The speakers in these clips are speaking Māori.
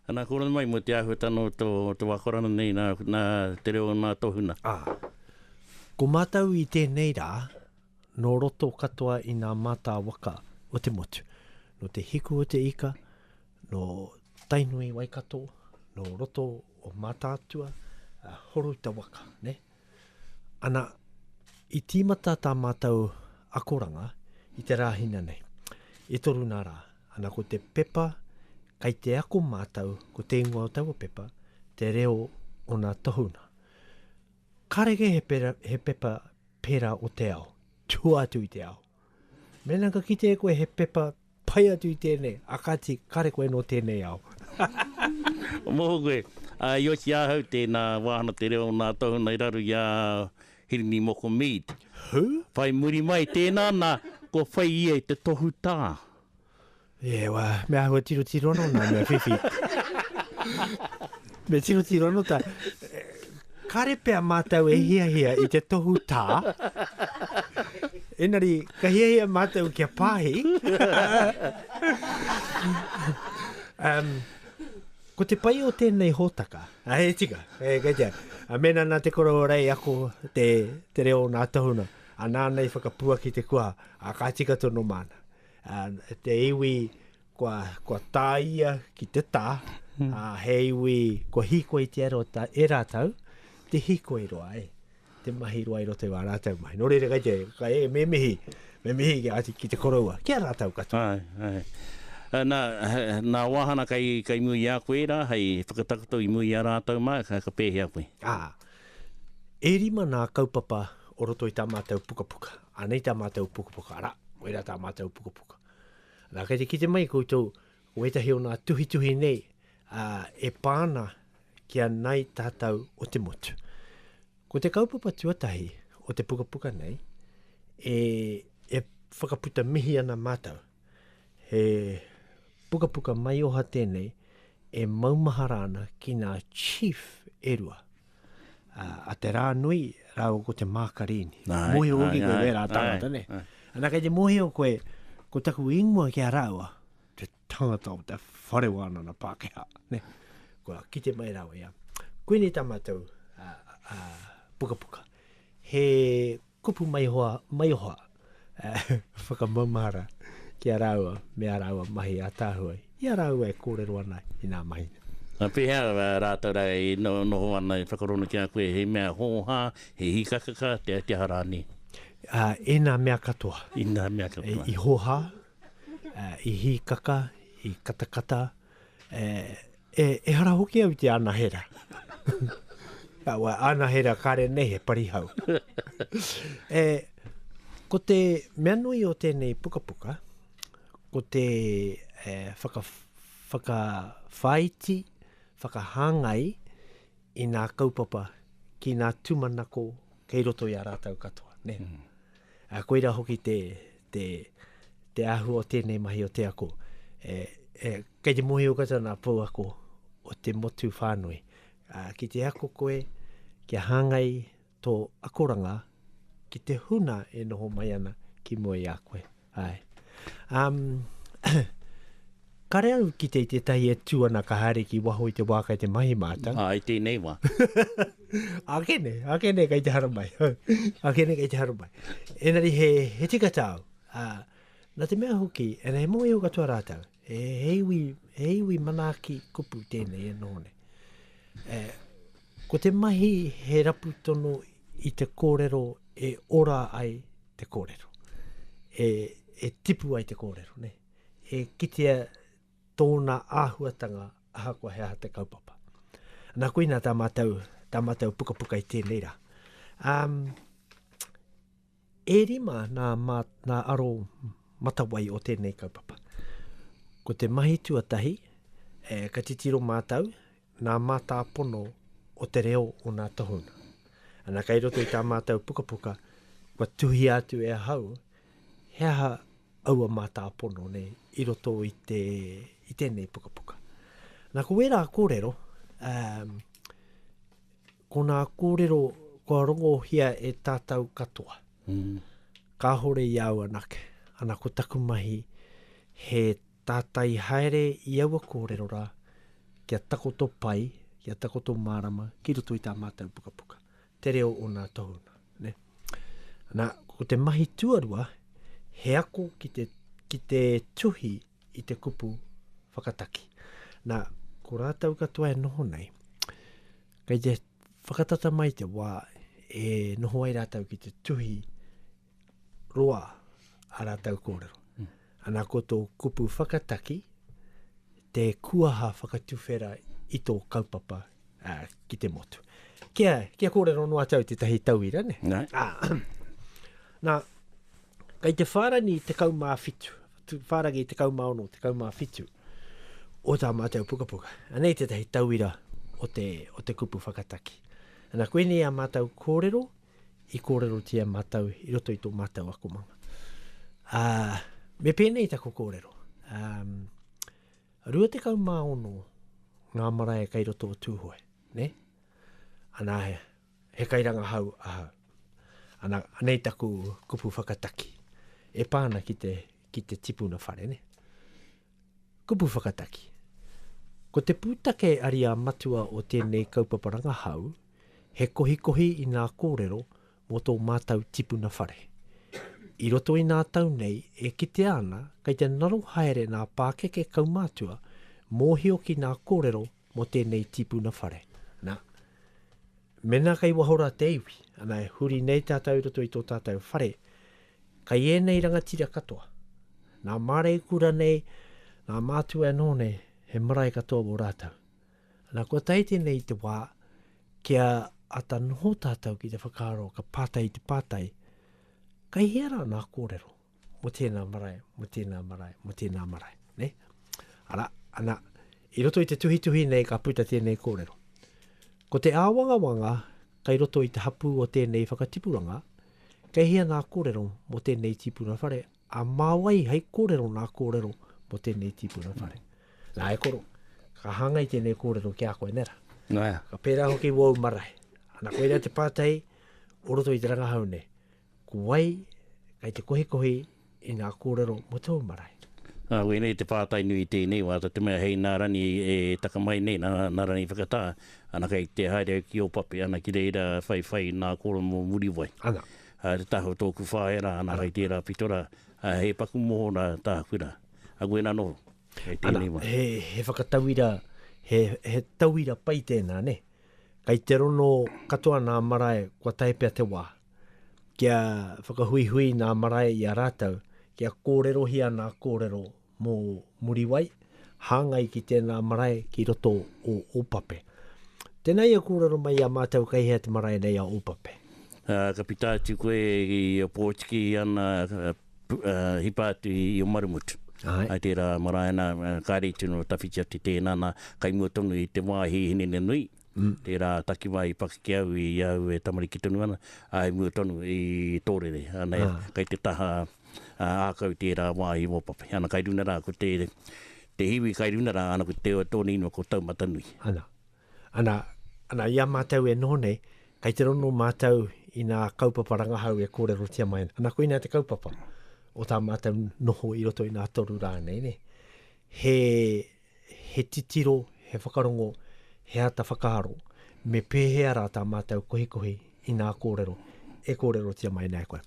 Ana kō rana mai mo te āhua tano to to wakorana nei na na te reo na tohuna. A. Ko mātou i tēnei rā, nō roto katoa i ngā mātā waka o te motu, nō te hiku o te ika, nō Tainui Waikato, nō roto o Mātaatua, a, horo i te waka, ne? Ana, i tīmata tā mātou akoranga i te Rāhina nei. E toru nā rā. Ana, ko te pepa kai te ako mātou, ko te ingoa o taua pepa, Te Reo o Nā Tohunga. Kareke he pepa pērā o te ao, tua atu i te ao. Mēnā ka kite e koe he pepa pai atu i tēnei, akati, kare koe nō tēnei ao. Moho koe. A, i oti ahau, tēnā wāhana te reo o nā tohunga i raru i a Hirini Moko Mead. Who? Whai muri mai, tēnā nā, kua whai ia i te tohutā. E wa, me ahua tiro tiro no na me fifi. me tiro tiro no ta. Kare pe a matau e hia hia i te tohu ta. Enari, ka hia hia matau kia pahi. um, ko te pai o tēnei hōtaka, a he tika, e kei tia, a mena nā te koro rei ako te, te reo nā tohuna, a nāna i whakapua ki te kua, a ka tika tono māna. Ā, te iwi kua, kua tāia ki te tā, hmm. ā, he iwi kua hikoi te aro ta, e rātou, te hikoi roa, e, te mahi roa i roto i wā rātou mahi. Nō reira kai te, kai e, me mihi, me mihi ki, ati, ki te koroua, ki a rātou katoa. Ai, ai. Eh, nā, eh, nā wāhana kai, kai mui i a koe rā, hei whakatakoto i mui i a rātou mā, ka, ka pēhea koe? Ā, e rima nā kaupapa o roto i tā mātou pukapuka. Anei tā mātou pukapuka, arā, koirā tā mātou pukapuka. Nā, kei te kite mai koutou, ko ētahi o nā tuhituhi nei, ā, e pā ana ki a Nāi Tātou o te Motu. Ko te kaupapa tuatahi o te pukapuka nei, e, e whakaputa mihi ana mātou. He pukapuka maioha tēnei e maumahara ana ki nā Chief e rua. a te rā nui rāua ko te mākarīni. Mōhio hoki koe wērā tāngata, ne? Anā, kei te mōhio koe, ko taku ingoa ki a rāua, te tangata o te whare wānana Pākehā, ne? Kua kite mai rāua ia. Koinei tā mātou pukapuka. He Kupu maihoa, maihoa. Whakamaumahara ki a rāua me ā rāua mahi ātaahua i a rāua e kōrero ana i nā mahi nei. Ā, pēhea rātou rā e noho ana e whakarongo ki a koe he mea hōhā, he hikakaka, te aha rānei? Ā, ēnā mea katoa. Ēnā mea katoa. I hōhā, i hikaka, i katakata, ā, E, ehara hoki au i te anahera. Awa, anahera kare nei he parihau. e, ko te mea nui o tēnei pukapuka, ko te e, whaka, whakawhaiti, whakahāngai i nā kaupapa ki nā tūmanako kei roto i a rātau katoa. Ne? Mm. Ā, koirā hoki te, te, te āhua o tēnei mahi o te ako. E, e, kei te mōhio katoa nā pouako o te motu whānui. Ā, ki te ako koe, kia hāngai tō akoranga ki te huna e noho mai ana ki mua i a koe. Āe. Um, Kare au ki te i tētahi e tū ana ka haere ki waho i te wā kai te mahi mātau. Ā, i tēnei wā. ake nei, ake nei kai te hara mai. ake nei kai te hara mai. Enari he, he tika tāu. Ā, nā te mea hoki, and he mōhio katoa rātau, he, he, iwi, he iwi manaaki kupu tēnei e noho nei. E, ko te mahi he rapu tono i te kōrero e ora ai te kōrero. E, e tipu ai te kōrero, nei. e kitea tōna āhuatanga ahakoa he aha te kaupapa. Nā koina tā mātou, tā mātou pukapuka i tēnei rā. Um, e rima nā, mā, nā aro matawai o tēnei kaupapa. Ko te mahi tuatahi, e, ka titiro mātou ngā mātāpono o te reo o ngā tohunga. Ana, kei roto i tā mātou pukapuka, kua tuhia atu e ahau, he aha aua mātāpono nei i roto i, te, i tēnei pukapuka. Nā, ko wērā kōrero, um, ko nā kōrero kua rongohia e tātou katoa. Mm. Kāhore i au anake. Ana, ko taku mahi, he Tātai haere i aua kōrero rā kia takoto pai, kia takoto mārama ki roto i tā mātou pukapuka, te reo o nā tohu nā. Ne? Nā, ko te mahi tuarua, he ako ki te, ki te tuhi i te kupu whakataki. Nā, ko rātou katoa e noho nei, kei te whakatata mai te wā e noho ai rātou ki te tuhi roa a rātou kōrero. Ana ko tō kupu whakataki, te kuaha whakatuwhera i tō kaupapa a, ki te motu. Kia, kia kōrero noa atu au tētahi tauira, ne? Nā. Ah, nā, kei te whārani te kaumā whitu, whārangi te kaumā ono, te kaumā whitu, o tā mātou pukapuka. Anei tētahi tauira o te, o te kupu whakataki. Ana koinei a mātou kōrero, i kōrerotia mātou i roto i tō mātou akomanga. Ā, me pēnei taku kōrero. Ā, 26 ngā marae kei roto o Tūhoe, ne? Ana, he, he kairanga hau ahau. Ana, anei taku kupu whakataki. E pā ana ki te, ki te tipuna whare, ne? Kupu whakataki Ko te pūtake ariā matua o tēnei kaupapa rangahau he kohikohi i ngā kōrero mō tō mātau tipuna whare. I roto i ngā tau nei e kitea ana kei te ngaro haere ngā pākeke kaumātua mōhio ki ngā kōrero mō tēnei tipuna whare. Nā. Mēnā kei waho rā te iwi, ana e huri nei tātou i roto i tō tātou whare, kei ēnei rangatira katoa, nā Māreikura nei, nā Mātua anō nei, he marae katoa wō rātou. Ana kua tae tēnei i te wā, kia ata noho tātou ki te whakaaro ka pātai te pātai, kei hea rā nā kōrero? mo tēnā marae, mo tēnā marae, mo tēnā marae. Ne? Ara, ana, i roto i te tuhituhi nei ka puta tēnei kōrero. Ko te āwangawanga kai roto i te hapū o tēnei whakatipuranga, kei hea nā kōrero mo tēnei tīpuna whare, a mā wai hei kōrero nā kōrero mo tēnei tīpuna whare. Nā e koro, ka hāngai tēnei kōrero ki a koe, nera? Nā. Ka pērā hoki wōu marae. Ana, koe rea te pātai o roto i te rangahau nei. Ko wai kei te kohikohi i ngā kōrero mō tōu marae? Ā, wēnei te pātai nui i tēnei wā, tā te mea hei nā Rani e taka mai nei, nā, nā Rani i whakatā, ana kei te haere au ki Ōpape, ana ki reira whai whai nā Koro mō Muriwai. Ana. Ā, te taha o tōku whaea rā, ana kei tērā pito rā, ā, he paku moho rā tāku rā. Ā, koinā anō, kei tēnei wā. Ana, he, he whakatauira, he, he tauira pai tēnā, nē? Kei te rono katoa nā marae kua tae pea te wā, kia whakahuihui ngā marae i a rātou, kia kōrerohia ngā kōrero mō Muriwai, hāngai ki tēnā marae ki roto o Ōpape. Tēnā ia kōrero mai i a mātou kei hea te marae nei a Ōpape. Ā, ka pita atu koe i Opotiki ana hipa atu i Omarumutu. Āe. I tērā marae nā, kāre i tino tawhiti atu tēnā, nā, kai mua tonu i te wāhi i Hineneanui. Tērā takiwā i pakeke au i a au e tamariki tonu ana, ā, i mua tonu i Tōrere. Anei, kei te taha ākau tērā wāhi i Ōpapai. Ana kai runa rā, ko te, te hiwi kai runa rā, ana ko te, tōna inua ko Taumatanui. Ana, ana, ana, i a mātou e noho nei, kei te rongo mātou i nā kaupapa rangahau e kōrerotia mai ana. Ana koinā te kaupapa o tā mātou noho i roto i nā toru rā nei, nē. He he titiro, he whakarongo, he ata whakaaro, me pēhea rā tā mātou kohikohi i ngā kōrero e kōrerotia mai ana e koe.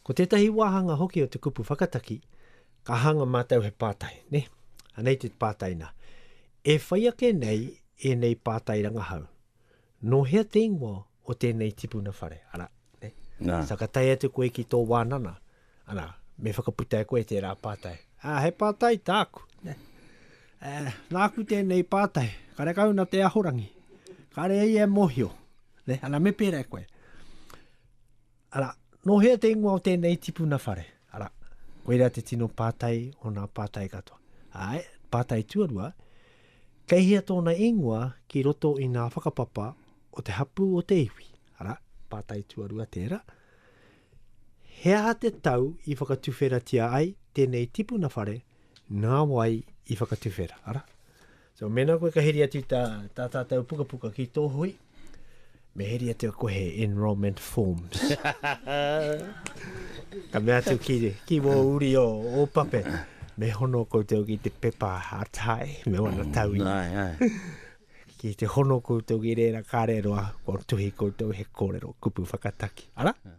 Ko tētahi wāhanga hoki o te kupu whakataki, ka hanga mātou he pātai, ne? Anei te pātai nā, e whai ake nei ēnei pātai rangahau, Nō hea te ingoa o tēnei tipuna whare, arā, nē? Nā. Sa ka tae atu koe ki tō wānana, arā, me whakaputa e koe tērā pātai. Ā, he pātai tāku, nē? Ā, nāku tēnei pātai, karekau nā te Ahorangi, kāre ia e mōhio, nē? Ana me pērā e koe. Arā, nō hea te ingoa o tēnei tipuna whare? Arā, koirā te tino pātai o nā pātai katoa. Āe, pātai tuarua, kei hea tōna ingoa ki roto i nā whakapapa o te hapū o te iwi? Arā, pātai tuarua tērā. He aha te tau i whakatuwheratia ai tēnei tipuna whare, nā wai i whakatuwhera? Arā, So mēnā koe ka heri atu tā, tā tātou pukapuka ki tō hui, me heri atu koe he enrollment forms. ka mea atu ki, ki wō uri o, o pape, me hono koutou ki te pepa atai, me wana mm, tau i. ki te hono koutou ki reira kārero a, kua tuhi koutou he kōrero kupu whakataki. Ara? Yeah.